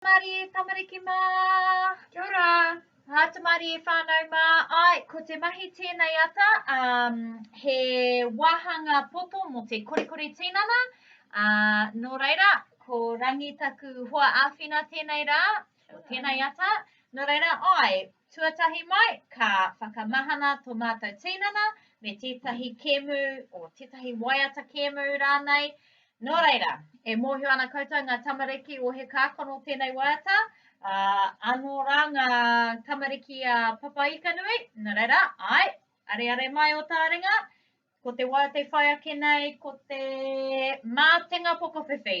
Tamari, tamariki mā. Kia ora. Ā, tamari, whānau mā. Āe, ko te mahi tēnei ata, ā, he wāhanga poto mō te korikori tinana, ā, nō reira, ko Rangi taku hoa āwhina tēnei rā, tēnei ata, nō reira, āe, Tuatahi mai, ka whakamahana tō mātou tīnana me tētahi kēmu, o tētahi waiata kēmu rānei. Nō reira, e mōhio ana koutou ngā tamariki o He Kākano tēnei waiata, ā, anō rā ngā tamariki a Papaikanui, nō reira, āe, areare mai ō tāringa, ko te waiata e whai ake nei, ko te mātenga pokowhiwhi.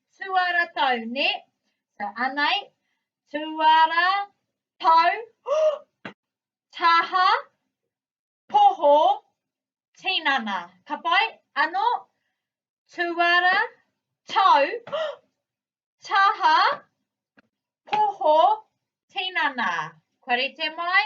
Tuara tau, ne? So, anei, tuara, tau, taha, poho, tinana. Ka pai? Ano, tuara, tau, taha, poho, tinana. Kua rite mai?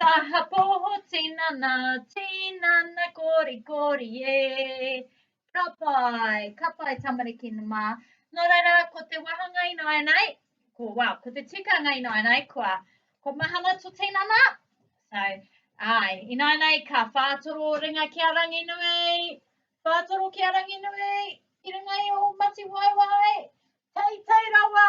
Taha poho tinana, tinana kori kori e. Ka pai, ka pai tamariki mā. Nō reira, ko te wahanga i nāianei, ko, wow, ko te tikanga i nāianei, kua, ko mahana to tinana. So, ai, i nāianei, ka whātoro ringa ki a Ranginui, whātoro ki a Ranginui, ki runga i o Matiwaiwai, tei tei rawa,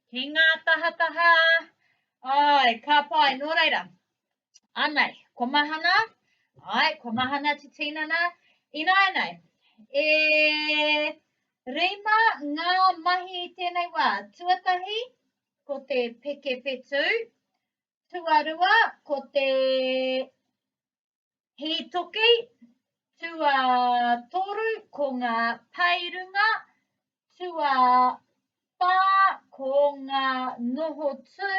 Ki ngā tahataha, ai, ka pai, nō reira. Anei, ko Mahana, ai, ko Mahana te tinana, ināinei, e rima ngā mahi i tēnei wā, tuatahi, ko te peke whetū, tuarua, ko te Hītoki, tuatoru ko ngā paerunga, tuawhā ko ngā noho tū,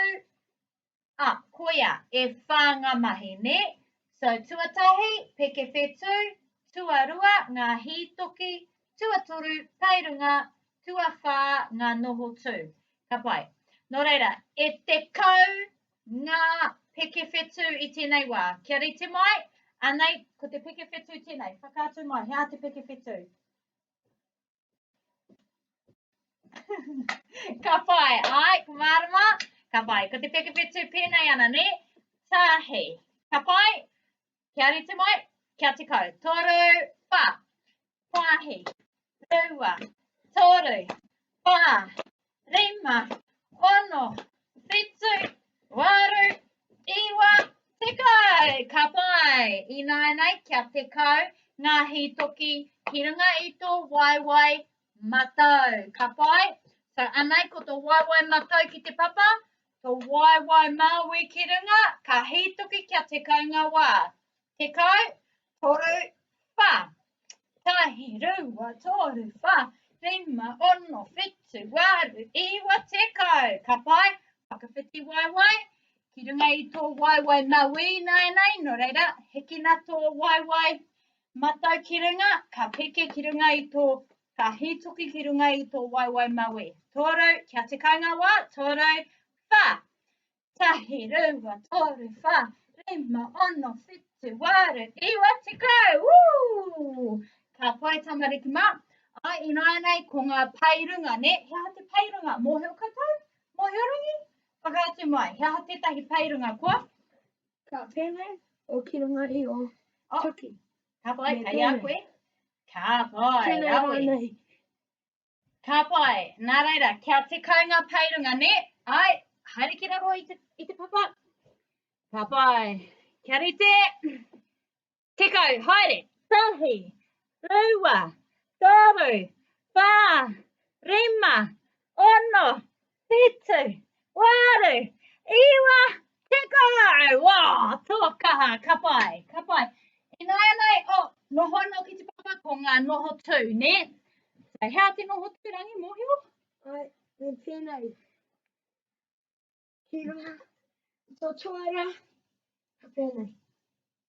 a, koia, e whā ngā mahi, nē? So, tuatahi, peke whetū, tuarua, ngā hītoki, tuatoru, paerunga, tuawhā, ngā noho tū. Ka pai. Nō reira, e 10 Ngā pekewhetū i tēnei wā. Kia rite mai, anei, ko te pekewhetū tēnei. Whakaatu mai, he aha te pekewhetū? ka whai, ai, ko mārama, ka whai. Ko te pekewhetū pēnei ana, ne? Tāhei. Ka whai, Kia rite mai, kia te kau. Toru, wha, whahi, rua, toru, wha, rima, ono, whitu, waru, iwa, te kau. Ka pai, ināinei kia te kau ngā hītoki ki runga i tō waewae matau. Ka pai, so anei ko tō waewae matau ki te papa, To waewae Māui ki runga, ka hītoki kia tekau ngā wā. Tekau, toru, wha. Tahi, rua, toru, wha, rima, ono, whitu, waru, iwa, tekau. Ka pai, whakawhiti waewae. Ki runga i tō waewae Māui ināianei, nō reira, hikina tō waewae matau ki runga, ka piki ki runga i tō Ka hītoki ki runga i tō waewae mawe. Tōrau, kia te kai ngā wā, tōrau, whā. Tahi, rua, tōru, whā, rima, ono, whitu, wāru, iwa, te kai. Woo! Ka pai tamariki mā. Ai, ināinei, ko ngā pai runga, ne? He aha te pai runga? Mōhio koutou? Mōhio rangi? Whakaatu mai, he aha tētahi pai runga kua? Ka pēnei, o ki runga i o, oh. tuki. Ka pai, kei a koe. Ka pai, Tēnei rawe. rānei. Ka pai. Nā reira, kia te kai ngā paerunga, ne? Ai, haere ki raro i te, i te papa. Ka pai. Kia rite. Tekau, haere. Tahi, rua, toru, whā, rima, ono, Whitu, waru, iwa, tekau! Wā! Tō kaha, ka pai, ka pai. Ināianei, oh, noho anō ki te papa, ko ngā noho tū, nē? So, hea te noho tū, Rangi, mōhio? Ai, me tēnei. Ki runga, tō tuara, ka pēnei.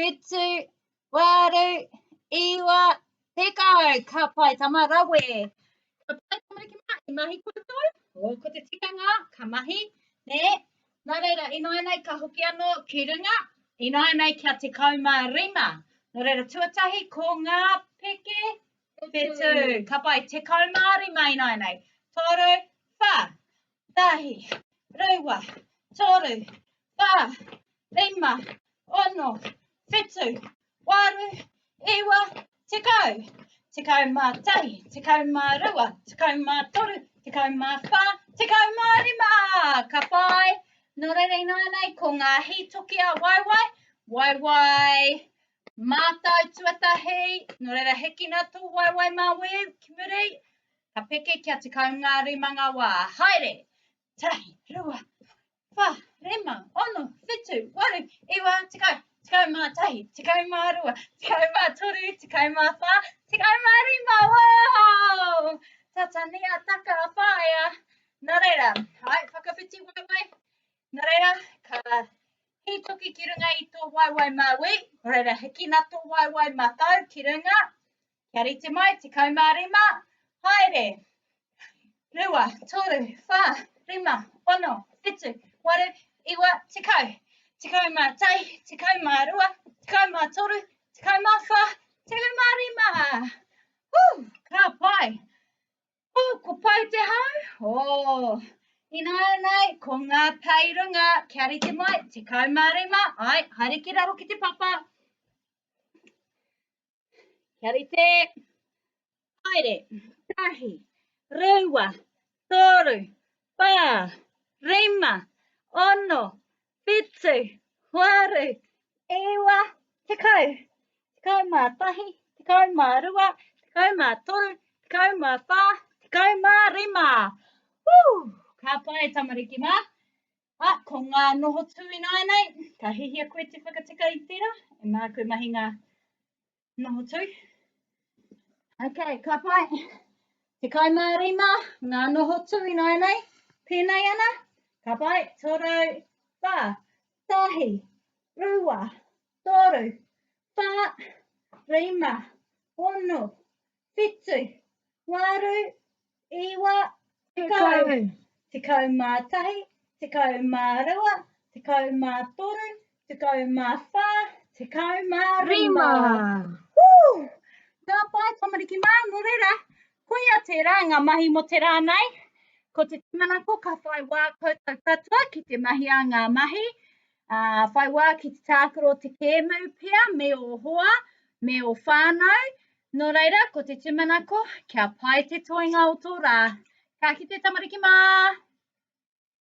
Whetū, whārū, iwa, tekau, ka pai tama rawe. Ka pai tama ki mā, i mahi koutou? O, ko te tikanga, ka mahi, nē. Nā reira, ināinei ka hoki anō ki runga, ināinei kia tekau mā rima. Nō reira, tuatahi, ko ngā peke, whetū, ka pai, tekau mā rima ināinei. Toru, wha, Rahi, Rewa, Toru, Wha, Rima, Ono, Whitu, Waru, Iwa, Tekau, Tekau ma Tahi, Tekau ma Rewa, Tekau ma Toru, Tekau ma Wha, Tekau ma Rima! Ka whai! No reira inānei ko ngā hītoki a Waiwai, Waiwai mātau tuatahi, no reira hekina tō Waiwai mā weu ki muri, Ka peke kia tekau ngā rima ngā wā. Haere! Tahi, rua, wha, rima, ono, whitu, waru, iwa, tekau, tekau mā tahi, tekau mā rua, tekau mā toru, tekau mā whā, tekau mā rima, wow! Tata ni a taka a whaea. Nā reira, hai, whakawhiti waiwai. Nā reira, ka hītoki ki runga i tō waiwai mā wī, nā reira, hikina tō waiwai mā tau ki runga. Kia rite mai, tekau mā rima, haere. Rua, toru, whā, rima, ono, whitu, waru, iwa, tekau. Tekau mā tai, tekau mā rua, tekau mā toru, tekau mā whā, tekau mā rima. Hū, ka pai. Hū, ko pai te hau. Oh. Ināianei, ko ngā pei runga, kia rite mai, te kaumārima, ai, haere ki raro ki te papa. Kia rite. Haere. Tahi. Rewa. Toru. Pa. Rima. Ono. Pitu. Waru. Ewa. Te kau. Te kau mā tahi. Te kau mā rua. Te kau mā toru. Te kau mā whā. Te kau mā rima. Woo! Ka pai tamariki mā. A, ko ngā noho tū ināinei, ka hihia koe te whakatika i tērā, e mā koe mahi ngā noho tū. Ok, ka pai. Te kai mā rima, ngā noho tū ināinei, pēnei ana, ka pai, tō rau, whā, tahi, rua, tōru, whā, rima, ono, Whitu. Waru. Iwa. Tekau. Tekau ma tahi. Tekau ma rua. Tekau ma toru. Tekau ma wha. Tekau ma rima. Woo! Ka pai, tamariki mā, nō reira, koia tērā ngā mahi mō te rā nei. Ko te tūmanako ka whai wā koutou katoa ki te mahi a ngā mahi, uh, whai wā ki te tākaro te kēmu pia me o hoa, me o whānau, Nō reira, ko te tūmanako, kia pai te toenga o tō rā. Ka kite tamariki mā!